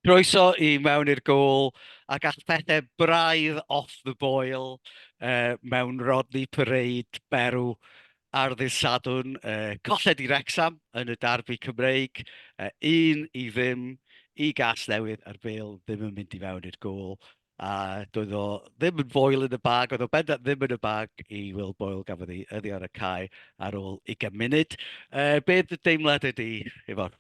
Croeso i mewn i'r gôl ac all pethau braidd off the boil uh, mewn Rodney Parade berw ar ddydd Sadwn. Uh, colled i Rexham yn y darbu Cymreig, uh, un i ddim i gas newydd a'r bel ddim yn mynd i fewn i'r gôl. A doedd o ddim yn foel yn y bag, oedd o bendant ddim yn y bag i Will Boyle, gafodd ei yrru ar y cae ar ôl 20 munud. Uh, be dy deimlad ydy, Ifor?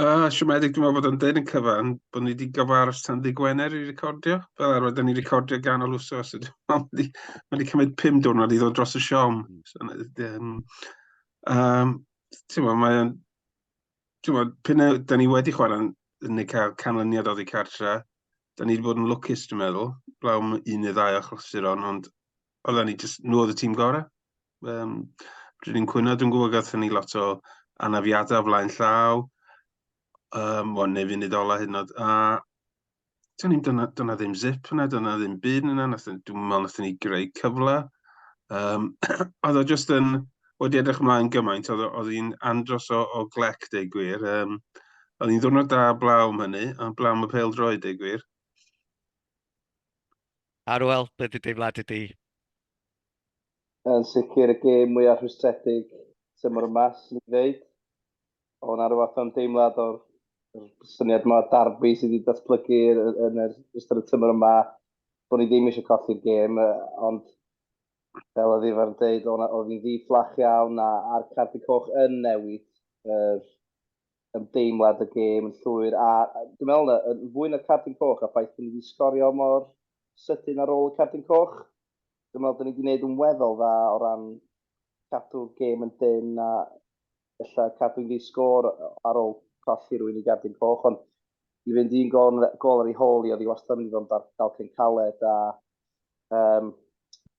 Uh, siomedig, dwi'n meddwl bod yn dweud yn cyfan bod ni wedi gyfarws tan ddi Gwener i recordio. Fel arfer, da ni recordio gan ol wsos. Mae wedi, ma wedi cymryd pum diwrnod i ddod dros y siom. Hmm. So, um, um, ti'n meddwl, mae'n Tymod, p'un a 'dan ni wedi chwarae neu cael canlyniad oddi cartre, 'dan ni wedi bod yn lwcus dwi'n meddwl, blaw un neu ddau o achlysuron, ond oedden ni jyst, nhw oedd y tîm gorau. Um, Rydyn ni'n cwyno, dwi'n gwybod gathon ni lot o anafiadau o flaen llaw, um, wel, neu funud ola hyd yn oed, a Do'n i'n dyna, dyna ddim zip yna, dyna ddim byd yna, dwi'n meddwl nath ni greu cyfle. Um, oedd o just yn, oedd i edrych ymlaen gymaint, oedd hi'n andros o, o glec, deu gwir. Um, oedd hi'n ddwrnod da blaw am hynny, a blaw am y pel droi, deu gwir. Arwel, beth y deimlad ydy? Yn sicr y gêm mwyaf rhwystredig tymor yma, sy'n ei ddeud. O, na rhyw fath o'n deimlad o'r syniad yma darbu sydd wedi datblygu yn yr ystod y tymor yma, bod ni ddim eisiau colli'r gêm, ond fel oedd Ifan yn dweud, oedd hi'n ddi-fflach iawn a, a'r cardi coch yn newid yr ymdeimlad y gêm yn llwyr. A dwi'n meddwl na, yn fwy na'r cardi coch a ffaith bod ni wedi sgorio mor sydyn ar ôl y cardi coch, dwi'n meddwl da ni wedi gwneud yn weddol dda o ran cadw gêm yn dyn a ella cadw'n ddi sgôr ar ôl colli rwy'n i gardyn coch, ond i fynd i'n gol, gol ar ei hôl i, oedd i wastad yn ddiddorol dal, dal cyn caled a um,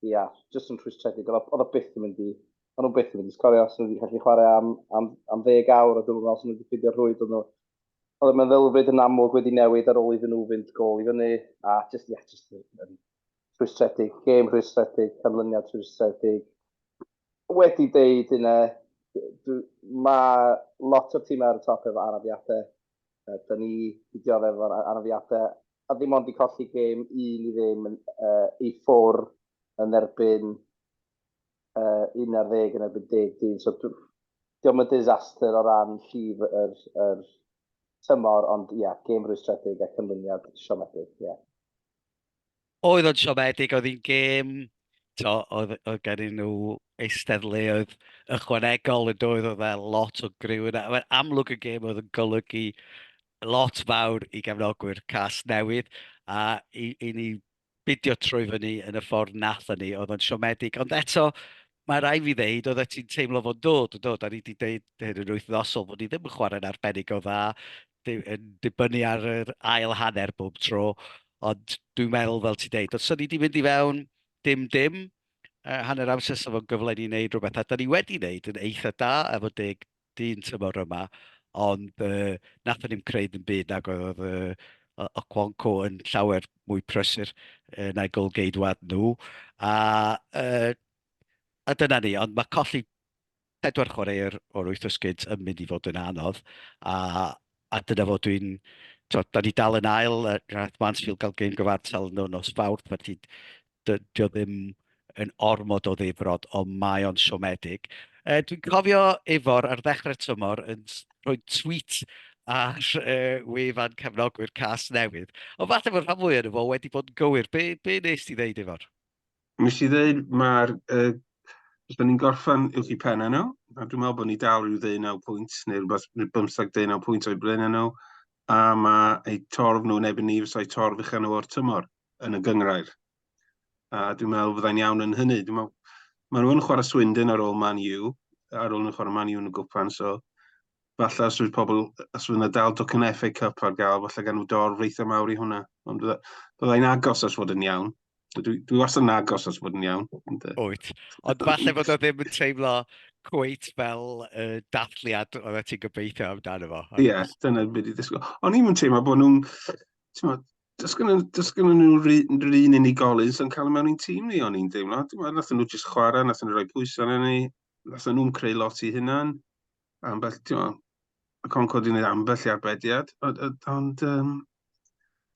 ia, jyst yn rhwystredig, oedd o byth yn mynd i, oedd nhw byth yn mynd i sgorio, os nhw wedi gallu chwarae am, am, am ddeg awr, a dwi'n meddwl os nhw wedi ffidio'r rhwyd, oedd nhw, oedd y meddylfryd yn amlwg wedi newid ar ôl iddyn nhw fynd gol i fyny, a jyst, ia, jyst yn, rhwystredig, gêm rhwystredig, canlyniad rhwystredig. Wedi deud hynna, mae lot o'r tîmau ar y top efo anafiadau. Da ni wedi dioddef efo'r anafiadau, a ddim ond i colli gêm un i ddim yn, uh, i ffwr yn erbyn uh, 11 yn erbyn 11. So, diolch yn disaster o ran llif yr, er, yr er tymor, ond ia, yeah, gêm rwystredig a cynlyniad siomedig, ie. Yeah. oedd o'n siomedig, oedd hi'n gêm, to, oedd, oedd gen i nhw eisteddleoedd ychwanegol yn doedd, oedd e lot o griw yna. Mae'n amlwg y gêm oedd yn golygu lot fawr i gefnogwyr cas newydd a i, i ni bidio trwy fyny yn y ffordd nath ni, oedd o'n siomedig. Ond eto, mae rai fi ddeud, oedd ti'n teimlo fo'n dod, yn dod, a ni wedi dweud hyn yn wythnosol, bod ni ddim yn chwarae'n arbennig o dda, yn dibynnu ar yr ail hanner bob tro, ond dwi'n meddwl, fel ti'n deud, os o'n i wedi mynd i fewn dim dim, uh, hanner amser sef o'n gyfle ni wneud rhywbeth, a da ni wedi wneud yn eitha da efo deg dyn tymor yma, ond uh, nath ni'n creu ddim byd nag oedd uh, o Cwanco yn llawer mwy prysur uh, na'i golgeidwad nhw. A, uh, a dyna ni, ond mae colli Pedwar chwaraewr o'r wyth esgid yn mynd i fod yn anodd a a dyna fo dwi'n t'od da ni dal yn ail yy nath Mansfield ga'l gêm gyfartal no nos Fawrth felly dy- dio ddim yn ormod o ddifrod ond mae o'n siomedig. Yy dwi'n cofio Ifor ar ddechre'r tymor yn s- rhoi tweet ar yy wefan cefnogwyr Casnewydd ond falle fod rhan fwya' ono fo wedi bod yn gywir be be wnest ti ddeud Ifor? Nes i ddeud, mae'r... Uh, os da ni'n gorffan uwch i pen nhw, a dwi'n meddwl bod ni dal rhyw ddeu naw pwynt, neu rhywbeth, rhyw bymthag ddeu naw pwynt o'i blaen nhw, a mae eu torf nhw'n ebyn ni fes o'i torf uchel nhw o'r tymor yn y gyngrair. A dwi'n meddwl byddai'n iawn yn hynny. Dwi'n meddwl, maen nhw'n chwarae Swindon ar ôl Man U, ar ôl nhw'n chwarae Man U yn y gwpan, so falle os fydd pobl, os fydd yna dal docyn FA Cup ar gael, falle gan nhw dorf eitha mawr i hwnna. Ond byddai'n agos os fod yn iawn. Dwi, dwi wastad yn agos os bod yn iawn. Wyt. Ond falle bod o ddim yn teimlo cweit fel uh, dathliad oedd e ti'n gobeithio amdano fo. Ie, yeah, dyna beth i ddysgu. O'n i'n teimlo bod nhw'n... Does gen nhw rhyw un unigolyn sy'n cael mewn i'n tîm ni o'n i'n deimlo. Nath nhw jyst chwarae, nath nhw rhoi pwysau arnyn ni, nath nhw'n creu lot i hynna'n. ambell, ti'n meddwl, y Concorde wedi gwneud ambell i arbediad, ond um,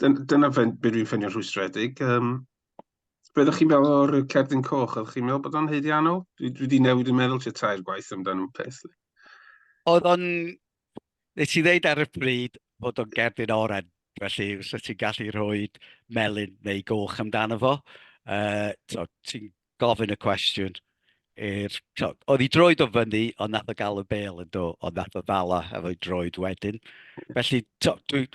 dyna fe, beth dwi'n ffynio'n rhwystredig. Um, Be ydych chi'n meddwl o'r cerdyn coch? Ydych chi'n meddwl bod o'n heiddiannol? Dwi, dwi wedi newid yn meddwl ti tair gwaith amdano'n peth. Oedd o'n... Nes i ddeud ar y bryd bod o'n gerdyn oren, felly os ti'n gallu rhoi melyn neu goch amdano fo, uh, ti'n gofyn y cwestiwn i'r... Oedd hi droed o fyny, ond nath o gael y bel yn do, ond nath o ddala efo'i droed wedyn. Felly, dwi...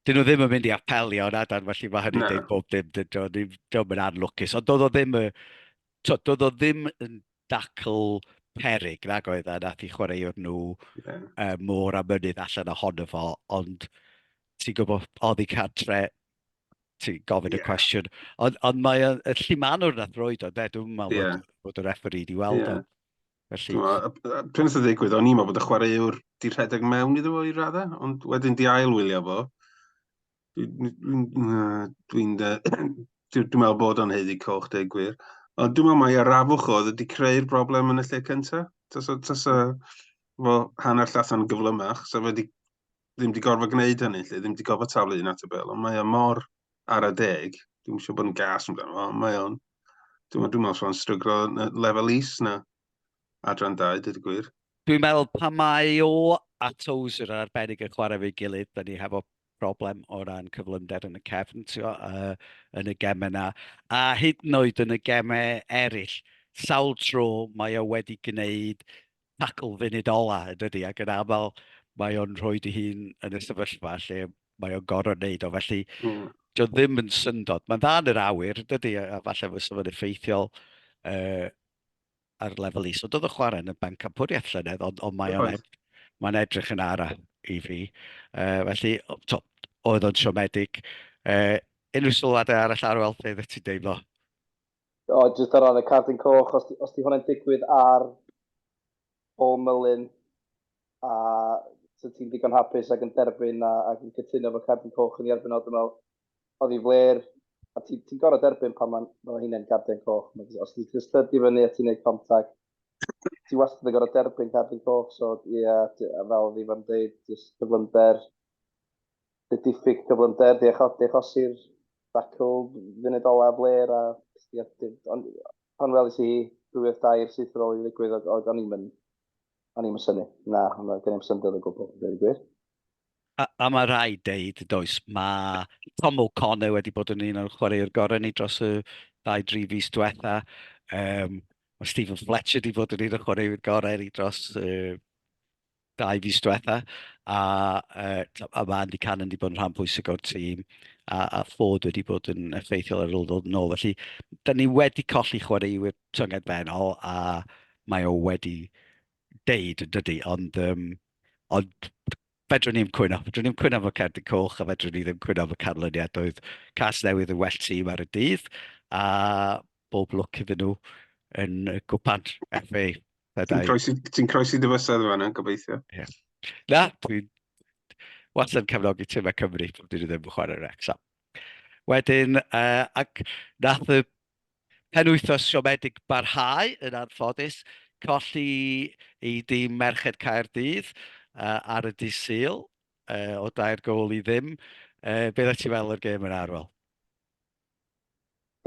Dyn nhw ddim yn mynd i apelio yn adan, felly mae hynny'n dweud bob dim. Dwi'n yn anlwcus. Ond doedd o ddim yn... Doedd o ddim yn dacl perig, nag oedd e, nath i chwaraewr nhw môr a mynydd allan ohono fo, ond ti'n gwybod, oedd hi cadre ti'n gofyn y cwestiwn. Ond, ond mae y e, lle maen nhw'n athroed o, de, dwi'n meddwl yeah. bod, bod yr effer i di weld yeah. Felly... Pryn oedd y ddigwydd, o'n i'n meddwl bod y chwaraewr di rhedeg mewn iddo fo i raddau, ond wedyn di ail wylio fo. Dwi'n dwi meddwl bod o'n heiddi coch, deg gwir. Ond dwi'n meddwl mai arafwch oedd wedi creu'r broblem yn y lle cyntaf. Tas o, tas o, fo hanner llathan gyflymach, so fe wedi ddim wedi gorfod gwneud hynny, lle, ddim wedi gorfod taflu un at y bel, ond mae o mor ar y deg, dwi'n siŵr bod yn gas yn amdano, ond mae o'n, dwi'n meddwl, dwi'n meddwl o'n stryglo lefel is na adran dau, dydw gwir. Dwi'n meddwl pa mae o a Tozer yn arbennig yn chwarae fe gilydd, da ni hefo problem o ran cyflymder yn y cefn, tio, uh, yn y gemau yna, a hyd yn oed yn y gemau eraill, sawl tro mae o wedi gwneud tackle funud ola yn dydi, ac yn aml mae o'n rhoi dy hun yn y sefyllfa lle mae o'n gorfod wneud o, felly mm. dio ddim yn syndod. Mae'n dda yn yr awyr, dydy, a falle fy sefyllfa effeithiol uh, ar lefel is. So doedd y chwarae yn y banc campwriaeth llynedd, ond, ond mae o'n ed, mae edrych yn ara i fi. Uh, felly, to, oedd o'n siomedig. Uh, unrhyw sylwadau arall ar weld beth ti'n deimlo? O, oh, jyst ar ran y cardyn coch, os, os di hwnna'n digwydd ar Paul Mullin, a so ti'n digon hapus ac yn derbyn a, ac yn cytuno fod cardyn coch yn ei erbyn o, dwi'n meddwl, oedd hi fler, a ti'n ti gorau derbyn pan mae'n ma hynny'n cardyn coch. Os ti'n just tydi fyny a ti'n gwneud contact, ti wastad yn gorau derbyn cardyn coch, so ie, yeah, fel oedd i'n dweud, just cyflymder, y diffyg cyflymder, di achosi'r dacl funud olaf flair a ond pan welis i rhywbeth dair syth ar ôl i ddigwydd oedd oedd o'n i'm yn o'n i'm yn syni. Na, o'n gen i'm syndod o gwbl, dweud y gwir. A, a mae rhai deud, does, mae Tom O'Connor wedi bod yn un o'r chwaraewr gorau ni dros y ddau dri fus diwetha. Um, mae Stephen Fletcher wedi bod yn un o'r chwaraewr gorau ni dros uh, dau fis diwetha, a yy a ma' Andy Cannon 'di bod yn rhan bwysig o'r tîm, a a Ford wedi bod yn effeithiol ar ôl ddod yn ôl. Felly, 'dan ni wedi colli chwaraewyr tyngedfennol, a mae o wedi deud yn dydy, ond yym ond fedrwn ni ddim cwyno. Fedrwn ni ddim cwyno am y Cerdyn Coch, a fedrwn ni ddim cwyno am y canlyniad. Doedd Casnewydd yn well tîm ar y dydd, a bob lwc iddyn nhw yn y gwpan FA. Ti'n croesi, ti croesi dy fysedd fan yna, gobeithio. Yeah. Na, dwi'n was yn cefnogi tîm y Cymru, dwi'n dyn ddim yn chwarae Wrexham. Wedyn, uh, ac nath y pen wythnos siomedig barhau yn anffodus, colli i dîm Merched Caerdydd uh, ar y disil uh, o dair gol i ddim. Uh, beth ti fel o'r gêm yn arwel?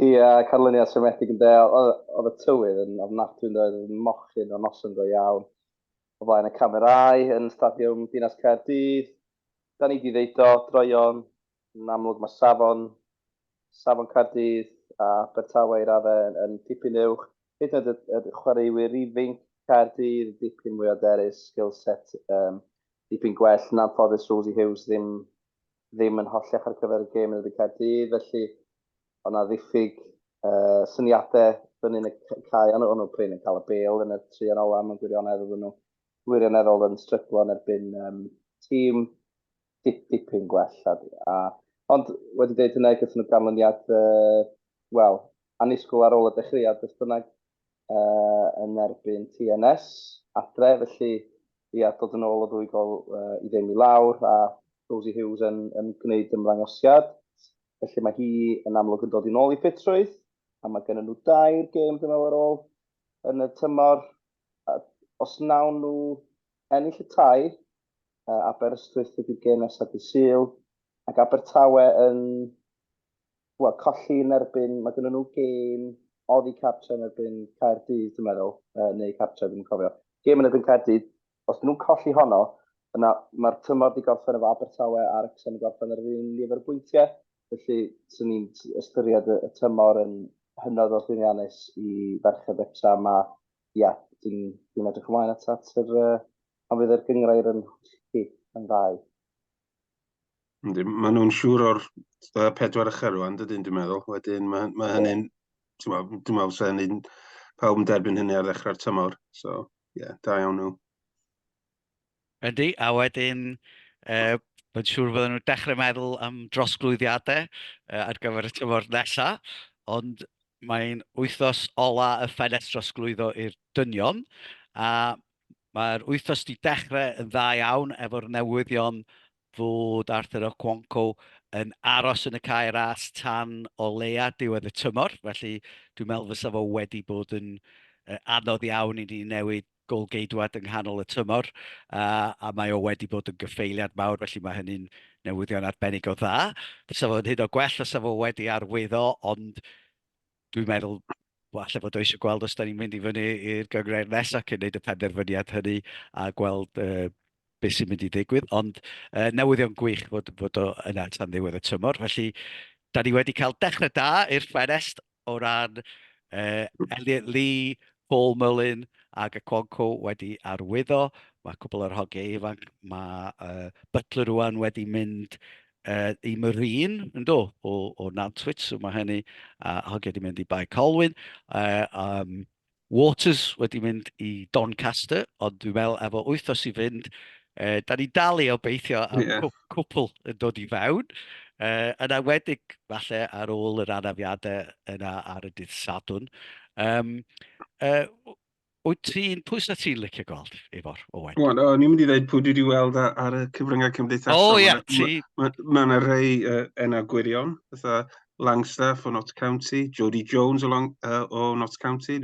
Ia, canlyniad siomedig yn de. Oedd y tywydd yn ofnadwy yn doedd, oedd mochyn o noson go iawn. O flaen y camerâu yn Stadiwm Dinas Caerdydd, da ni di ddeud o, droion, yn amlwg mae safon, safon Caerdydd a Abertawe i raddau yn, yn dipyn uwch. Hyd yn oed y, y chwaraewyr ifinc Caerdydd, dipyn mwy o derys, skill set um, dipyn gwell, yn anffodus Rosie Hughes ddim, ddim yn hollech ar gyfer y gêm yn y byd Caerdydd, felly ond na ddiffyg uh, syniadau fyny yn y cae, ond o'n nhw prin yn cael y bel yn y tri yn ola, mae'n gwirionedd oedden nhw wirioneddol yn stryglo yn erbyn um, tîm dip, dipyn gwell. A, a, ond wedi dweud hynny, gyda nhw ganlyniad, uh, wel, anisgwyl ar ôl y dechreuad, beth bynnag, uh, yn erbyn TNS adre, felly Ia, dod yn ôl o ddwy gol i ddim i lawr a Rosie Hughes yn, yn gwneud ymddangosiad. Felly mae hi yn amlwg yn dod i'n ôl i ffitrwydd a mae gennym nhw dair gêm dwi'n meddwl ar ôl yn y tymor. A os nawn nhw ennill y tair, Aberystwyth ydy'r gêm nesaf dydd Sul ac Abertawe yn wel, colli yn erbyn, mae gennyn nhw gêm oddi cartre yn erbyn Caerdydd, dwi'n meddwl, uh, neu cartre, dwi'n cofio. Gêm yn erbyn Caerdydd, os nhw'n colli honno, yna mae'r tymor di gorffen efo Abertawe a'r Wrexham yn gorffen ar yr un nifer o bwyntiau, felly swn i'n ystyried y, y tymor yn hynod o llwyddiannus i ferched Wrexham a ia, dwi'n dwi edrych ymlaen at, at yr, uh, pan fydd yr gyngrair yn hollti yn ddau. Yndi, maen nhw'n siŵr o'r uh, pedwar ychydig rwan, dydyn, dwi'n meddwl. Wedyn, mae, mae hynny'n, dwi'n meddwl, dwi'n meddwl sy'n hynny'n pawb yn derbyn hynny ar ddechrau'r tymor. So, ie, yeah, da iawn nhw. Yndi, a wedyn, uh, Mae'n siŵr fydden nhw'n dechrau meddwl am drosglwyddiadau uh, ar gyfer y tymor nesaf, ond mae'n wythnos ola y ffenest drosglwyddo i'r dynion, a Mae'r wythnos 'di dechrau yn dda iawn efo'r newyddion fod Arthur Okonkwo yn aros yn y cae ras tan o leia diwedd y tymor, felly dwi'n meddwl fysa fo wedi bod yn anodd iawn i ni newid gôl-geidwad yng nghanol y tymor, a mae o wedi bod yn gyffeiliad mawr, felly mae hynny'n newyddion arbennig o dda. Fysa fo'n hyd o gwell fysa fo wedi arwyddo, ond dwi'n meddwl, falle bod o eisiau gweld os da ni'n mynd i fyny i'r gyngred nesaf cyn wneud y penderfyniad hynny a gweld uh, beth sy'n mynd i ddigwydd, ond uh, newyddion gwych fod, fod o yna tan ddiwedd y tymor, felly da ni wedi cael dechrau da i'r ffenest o ran uh, Elliot Lee, Paul Mullin ac y Cwanco wedi arwyddo, mae cwbl o'r hogiau ifanc, mae uh, Butler rwan wedi mynd i Marine, yn do, o, o Nantwit, so mae hynny, a hogia wedi mynd i Bae Colwyn. Uh, um, Waters wedi mynd i Doncaster, ond dwi'n meddwl efo wythnos i fynd, uh, da ni dal i obeithio am yeah. cwpl yn dod i fewn. Uh, yn awedig, falle, ar ôl yr anafiadau yna ar y dydd Sadwn. Um, uh, Wyt ti'n pwys a ti'n licio golf, Ifor, Owen? Wel, o'n i'n mynd i ddweud pwy dwi wedi weld ar y cyfryngau cymdeithasol. O, ia, ti. Mae yna rei uh, enna gwirion, fatha Langstaff o Notts County, Jody Jones o, Long, uh, o Notts County.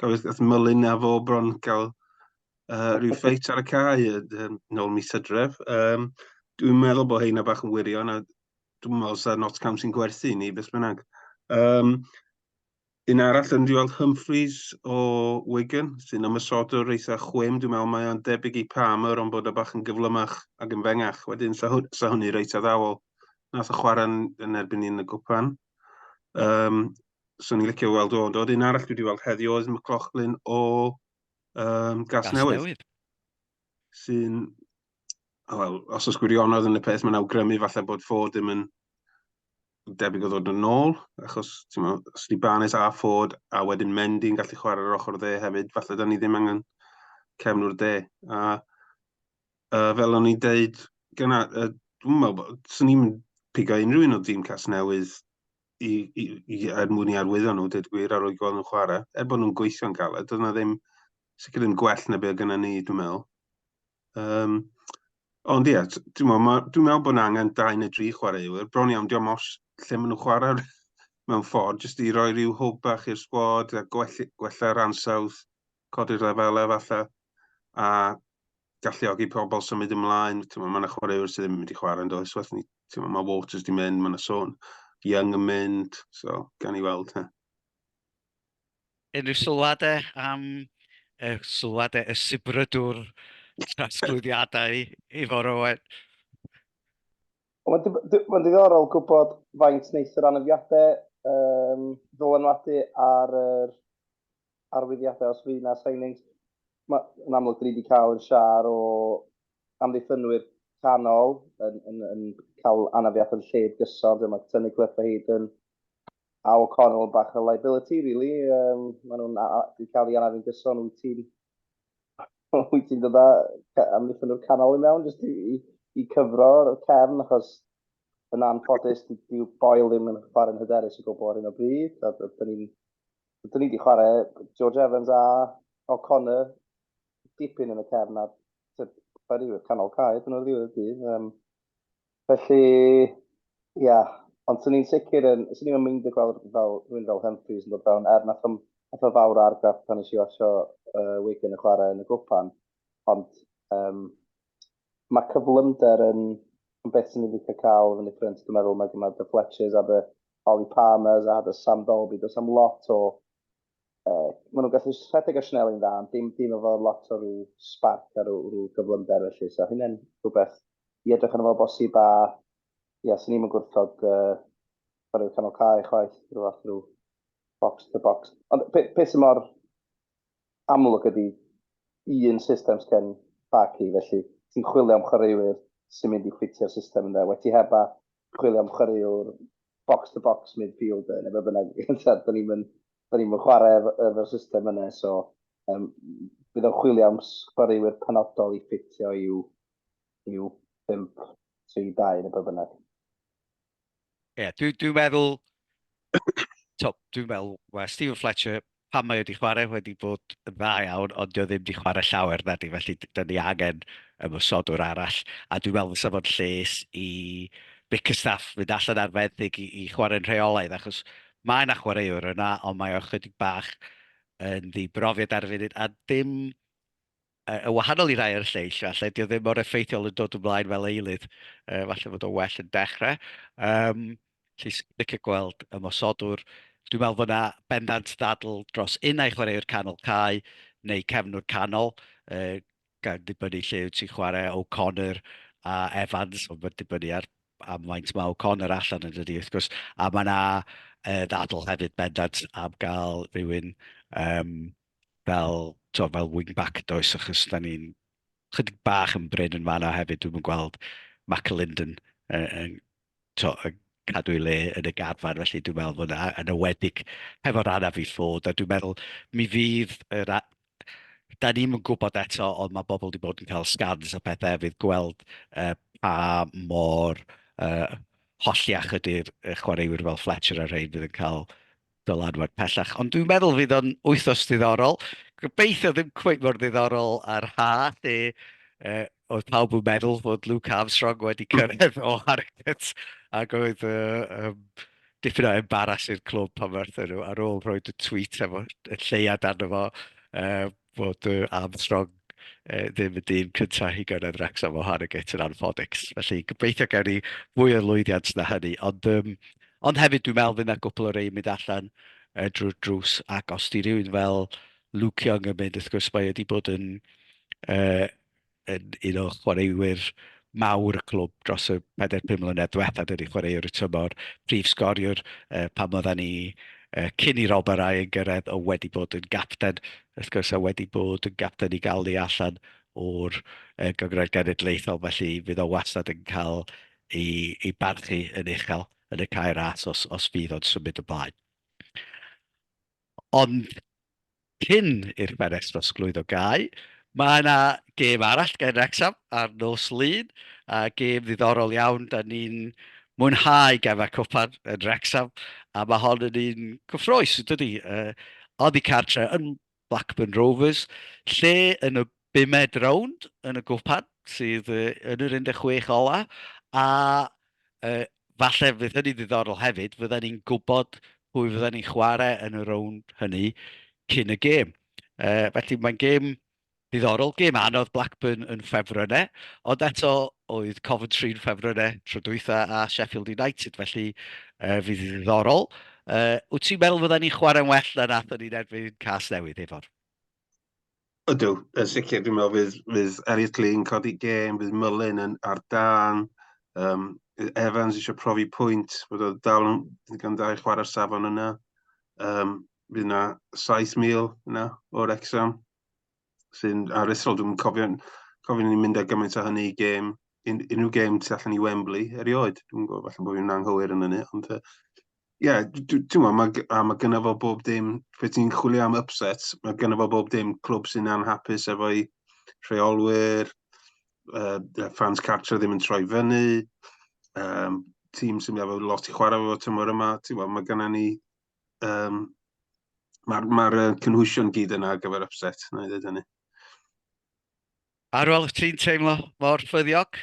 Gafodd gath Mylun a fo bron gael uh, rhyw ffeit ar y cae um, nôl mis hydref. Um, dwi'n meddwl bod heina bach yn wirion a dwi'n meddwl sa Notts County'n gwerthu ni, beth bynnag. Um, Un arall yn Rhiwald Humphreys o Wigan, sy'n ymysodwr eitha chwim, dwi'n meddwl mae o'n debyg i Palmer ond bod o bach yn gyflymach ac yn fengach. Wedyn, sa, hw, sa hwnni reit addawol. Nath o chwarae yn erbyn ni'n y gwpan. Um, so ni'n licio weld o'n dod. Un arall dwi wedi weld heddiw oedd McLaughlin o um, Gas, Gas Newydd. Newydd. Sy'n, wel, os oes gwirionedd yn y peth, mae'n awgrymu falle bod Ford ddim yn debyg o ddod yn ôl, achos ti'n meddwl, os ni Barnes a Ford, a wedyn Mendy yn gallu chwarae ar yr ochr dde hefyd, falle da ni ddim angen cefnwr de. A uh, fel o'n i'n deud, gyna, uh, dwi'n meddwl, swn i'n pigo unrhyw un o dîm cas newydd i, i, i, er mwyn i arwyddo nhw, dweud gwir, ar o'i gweld nhw'n chwarae, er bod nhw'n gweithio'n galed, doedd yna ddim, sicr ddim gwell na beth gyda ni, dwi'n meddwl. Um, ond ie, dwi'n meddwl, dwi meddwl bod yna angen dau neu dri chwaraewyr. Bron iawn, diolch os lle maen nhw'n chwarae mewn ffordd, jyst i roi rhyw hwb bach i'r sgwad, a gwella, gwella'r ansawdd, codi'r lefelau falle, a galluogi pobl symud ymlaen. Mae yna chwaraewyr sydd ddim yn mynd i chwarae yn does. Mae Waters di mynd, mae yna sôn Young yn mynd, so gan i weld. He. Unrhyw sylwadau am y sylwadau y sibrydwr trosglwyddiadau i fore Owen? Wel mae'n ddiddorol gwybod faint wneith yr anafiadau um, ddylanwadu ar yr arwyddiadau os fydd yna signings. Mae'n amlwg dyn ni wedi cael yn siar o amddiffynwyr canol yn, yn, yn cael anafiad yn lled gyson, dyma Tony Clyffe hyd yn A O'Connell bach o liability rili, yym ma' nhw'n a- a- 'di cael ei anafu'n gyson, wyt ti'n wyt ti'n dod â ca- amddiffyn nhw'r canol i mewn jyst i i i cyfro'r cefn achos yn anffodus di- dyw Boyle ddim yn chwarae'n hyderus o gwbl ar hyn o bryd a d- dyn ni'n dyn ni 'di chwarae George Evans a O'Connor dipyn yn y cefn a tibod, chwarae i'r canol cae dyn nhw'r ddiwedd y dydd yym Felly, ia. Ond 'swn i'n sicr yn... 'swn i'm yn meindio gweld rhywbeth fel rhywun fel Humphreys yn dod fewn, er wnaeth o'm wnaeth o fawr o argraff pan wnes i watsio yy Wigan yn chwarae yn y gwpan, ond yym ma' cyflymder yn yn beth 'swn i'n licio cael fyny ffrynt, dwi'n meddwl, mae gen dy Fletchers a dy Ollie Palmers a dy Sam Dalby, does 'na'm lot o uh, maen nhw'n gallu rhedeg a Schnell yn dda, ond dim, dim efo lot o rhyw sparc a rhyw, rhyw gyflymder felly. So hynny'n rhywbeth i edrych yn efo bosib a ia, sy'n ni'n gwrthod uh, ar y canol cae chwaith, rhyw fath rhyw box to box. Ond pe, pe sy'n mor amlwg ydy un system sgen Barky, felly ti'n chwilio am chwaraewyr sy'n mynd i ffitio'r system yna. Wedi heb a chwilio am chwaraewr box-to-box midfielder, neu beth bynnag, da ni'n mynd, da ni'n mynd chwarae efo'r system yna, so um, bydd o'n chwilio am sgwariwyr penodol i ffitio i'w, i'w 5-3-2 neu beth bynnag. Ie, yeah, dwi'n dwi meddwl, dwi'n meddwl, well, Stephen Fletcher, pan mae o 'di chwarae wedi bod yn dda iawn, ond 'di o ddim 'di chwarae llawer nadi, felly 'da ni angen ymosodwr arall, a dwi'n meddwl fysa fo'n lles i Bickerstaff fynd allan ar fenthyg i, i chwarae'n rheolaidd, achos mae yna chwaraewr yna, ond mae o chydig bach yn ddibrofiad ar y funud, a dim Yn wahanol i rai o'r lleill, falle, dyw e ddim mor effeithiol yn dod ymlaen fel eilydd. Yy, falle fod o'n well yn dechrau. Um, Felly, licio gweld ymosodwr. Dwi'n meddwl fod yna bendant ddadl dros un ai chwaraewr canol cae neu cefnwr canol, uh, gan ddibynnu lle wyt ti'n chwarae O'Connor a Evans, ond mae'n dibynnu ar am faint mae O'Connor allan yn dydy, wrth gwrs. A mae yna uh, ddadl hefyd bendant am gael rhywun um, fel, tibod, fel wing-back does, achos da ni'n chydig bach yn brin yn fanna hefyd, dwi'm yn gweld McAlinden yn, yn, tibod, yn cadw ei le yn y garfan, felly dwi'n meddwl fod yn ywedig hefo'r anaf i ffod, a dwi'n meddwl mi fydd yr da ni'n gwybod eto, ond mae bobl wedi bod yn cael scans a pethau fydd gweld uh, pa mor uh, holliach ydy'r chwaraewyr fel Fletcher a rhaid fydd yn cael Dylanwad pellach. Ond dwi'n meddwl fydd o'n wythnos ddiddorol. Gobeithio ddim cweit mor ddiddorol ar ha, lle uh, oedd pawb yn meddwl fod Luke Armstrong wedi cyrraedd o Harrogate ac oedd uh, um, dipyn o embaras i'r clwb pan werthu nhw ar ôl rhoi y tweet efo y lleiad arno fo uh, fod y Armstrong yy ddim y dyn cyntaf i gyrraedd Wrecsam o Harrogate yn anffodus. Felly gobeithio gawn ni fwy o lwyddiant na hynny. Ond yym ond hefyd dwi'n meddwl fydd 'na gwpwl o rei yn mynd allan yy drwy'r drws ac os 'di rhywun fel Luke Young yn mynd wrth gwrs mae e 'di bod yn yy yn un o chwaraewyr mawr y clwb dros y 4-5 mlynedd diwethaf, dydy chwaraewr y tymor, prif sgoriwr uh, pan oedden ni uh, cyn i Rob Arai yn gyrraedd o wedi bod yn gapten, wrth gwrs a wedi bod yn gapten i gael ni allan o'r uh, gyngred genedlaethol, felly fydd o wastad yn cael ei, ei barchu yn uchel yn y cair as os, os fydd o'n symud y blaen. Ond cyn i'r ffenest drosglwyddo gau, mae 'na gêm arall gen Wrecsam ar nos Lun, a gêm ddiddorol iawn. Da ni'n mwynhau gemau cwpan yn Wrecsam, a mae hon yn un cyffrous, yn dydi? Yy, oddi cartre yn Blackburn Rovers, lle yn y bumed rownd yn y gwpan sydd yn yr 16 ola a uh, falle fydd hynny ddiddorol hefyd, fydden ni'n gwybod pwy fydden ni'n chwarae yn y rownd hynny cyn y gêm. Uh, felly mae'n gêm diddorol, gêm anodd Blackburn yn ffefrynnau, ond eto oedd Coventry yn ffefrynnau tro dwytha a Sheffield United, felly uh, fydd ddiddorol. Uh, wyt ti'n meddwl fydden ni'n chwarae'n well na nath o'n ni'n erbyn cas newydd, Efor? Ydw, yn sicr. Dwi'n meddwl fydd, fydd Elliot Lee yn codi gêm, fydd Mullin yn ar dan. Um, Evans eisiau profi pwynt, bod o dal yn ddigon da i chwarae'r safon yna. Um, bydd yna 7,000 yna o'r exam sy'n aruthrol. Dwi'n cofio, cofio ni'n mynd â gymaint o hynny i gêm, un, unrhyw gêm tu allan i Wembley erioed. Dwi'n gwybod, falle bod fi'n anghywir yn hynny, ond uh, Ie, t'mo' ma' gy- a ma' gynno fo bob dim be' ti'n chwilio am upset, ma' gynno fo bob dim, clwb sy'n anhapus efo'i rheolwyr, yy yy ffans cartre ddim yn troi fyny, yym tîm sy'n efo lot i chwarae efo tymor yma, ti'n gwbod, ma' gynna ni yym ma'r ma'r yy cynhwysion gyd yna ar gyfer upset, wna i ddeud hynny. Arwel, wyt ti'n teimlo mor ffyddiog?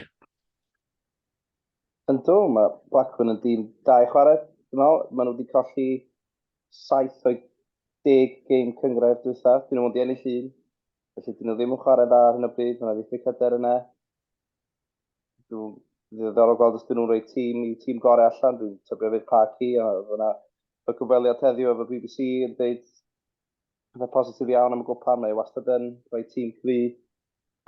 Ynddo, mae Blackburn yn dîm da i chwarae. Dwi'n meddwl, maen nhw wedi colli 7 o'i 10 gêm cyngrair diwetha. Dyn nhw wedi ennill un. Felly, dyn nhw ddim yn chwarae dda ar hyn o bryd. Mae'n ddiffyg hyder yna. Dwi'n ddiddorol gweld os dyn nhw'n rhoi tîm i tîm gorau allan. Dwi'n tybio fydd Parky, a fyna y cyfweliad heddiw efo BBC yn dweud pethau positif iawn am y gwpan, mae e wastad yn rhoi tîm cryf.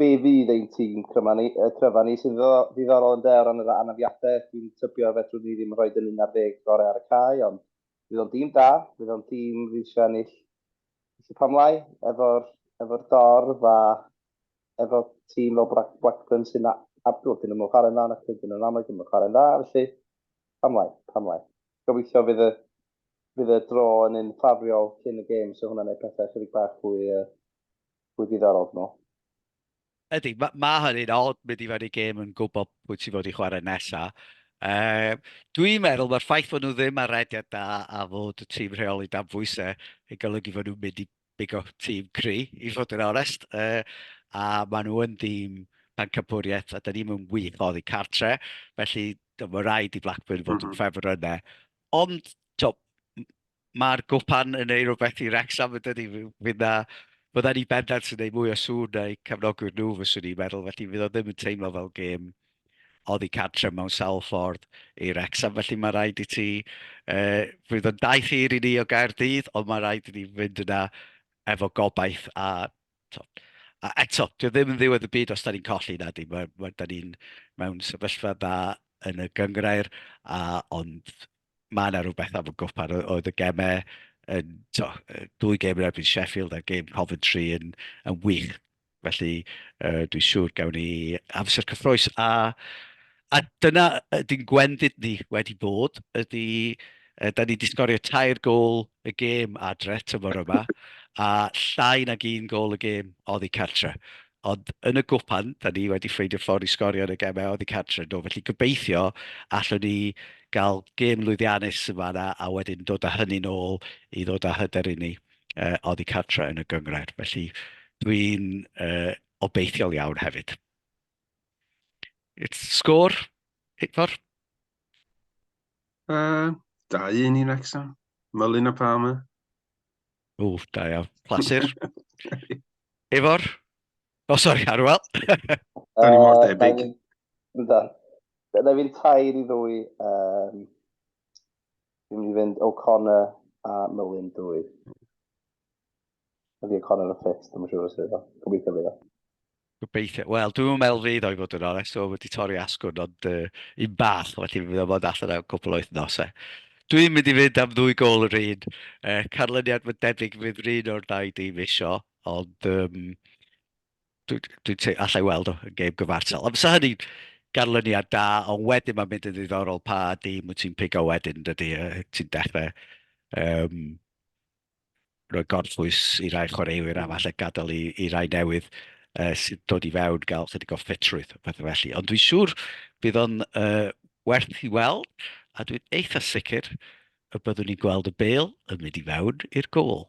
Be fydd ein tîm cryfa ni, uh, cryfa ni sy'n ddiddorol yn de o ran yr anafiadau, dwi'n tybio fedrwn ni ddim rhoi dyn un ar ddeg gorau ar y cae, ond fydd o'n dîm da, fydd o'n dîm fydd eisiau ennill y pamlau efo'r efo dorf a efo tîm fel Black, Blackburn sy'n abdol, dyn nhw'n chwarae'n dda, ac dyn nhw'n amlwg yn chwarae'n dda, felly pamlau, pamlau. Gobeithio fydd y fydd y draw yn un ffafriol cyn y gêm, so hwnna'n neud pethau chydig bach fwy yy fwy diddorol dwi me'wl. Ydi, ma' ma' hynny'n od mynd i fewn i gêm yn gwbo pwy ti fod i chware nesa. Yy dwi'n meddwl ma'r ffaith fod nhw ddim ar rediad da a fod y tîm rheoli dan bwyse yn golygu fod nhw'n mynd i bigo tîm cry i fod yn onest yy a ma' nhw yn dîm pencampwriaeth a 'da ni'm yn wych oddi cartre felly t'mo' ma' raid i Blackburn fod yn ffefrynne Ond, tibod, mae'r gwpan yn ei rhywbeth i Wrecsam yn dydy. Fydd na... fydda ni bendant yn ei mwy o sŵn na'i cefnogwyr nhw, fyswn i'n meddwl. Felly, fydd o ddim yn teimlo fel gêm oddi cadre mewn sawl ffordd i Wrecsam. Felly, mae rhaid i ti... Uh, fydd o'n daith hir i ni o Gaerdydd, ond mae rhaid i ni fynd yna efo gobaith a Tibod, a eto, dyw e ddim yn ddiwedd y byd os dan ni'n colli, na 'di. Mae, mae, dan ni'n mewn sefyllfa dda yn y gynghrair, a, ond mae yna rhyw bethau am y gwpan. O- oedd y gemau yn, tibod, yy, dwy gêm yn erbyn Sheffield a'r gêm Coventry yn, yn wych. Felly, yy, dwi'n siŵr gawn ni amser cyffrous a A dyna ydy'n gwendid ni wedi bod, ydy yy da ni 'di sgorio tair gôl y gêm adre tymor yma a llai nag un gôl y gêm oddi cartre. Ond yn y gwpan, da ni wedi ffeindio ffordd i sgorio yn y gemau oddi cartre do, felly gobeithio allwn ni gael gêm lwyddiannus yn fanna a wedyn dod â hynny'n ôl i ddod â hyder i ni uh, oddi cartre yn y gyngred. Felly dwi'n uh, obeithiol iawn hefyd. It's sgôr, Hitfar. Uh, da un i Wrexham. Mylun a Palmer. O, da iawn. Clasur. Ifor? O, oh, sori, Arwel. da ni mor debyg. Da. Da fi'n tair i ddwy. Um, fi'n mynd i fynd O'Connor a Mylun dwy. Ydy y Connor yn ffit, dwi'n siŵr os ydy o. Gobeithio fydd o. Gobeithio. Wel, dwi'n meddwl fydd o'i fod yn onest, o wedi torri asgwrn, ond uh, un bach, felly fe fydd o'n bod allan am cwpl o wythnosau. Dwi'n mynd i fynd am ddwy gol yr un. Uh, canlyniad fy debyg fydd rhan o'r ddau dîm isio, ond um, dwi'n dwi, dwi allai weld o yn gêm gyfartal. Ond fysa hynny ganlyniad da, ond wedyn mae'n mynd yn ddiddorol pa dîm wyt ti'n pigo wedyn, dydy, uh, ti'n dechrau um, roi gorffwys i rai chwaraewyr a falle gadael i, i rai newydd uh, sydd dod i fewn gael chydig o ffitrwydd, pethau felly. Ond dwi'n siŵr bydd o'n uh, werth i weld, a dwi'n eitha sicr y byddwn ni'n gweld y bel yn mynd i fewn i'r gol.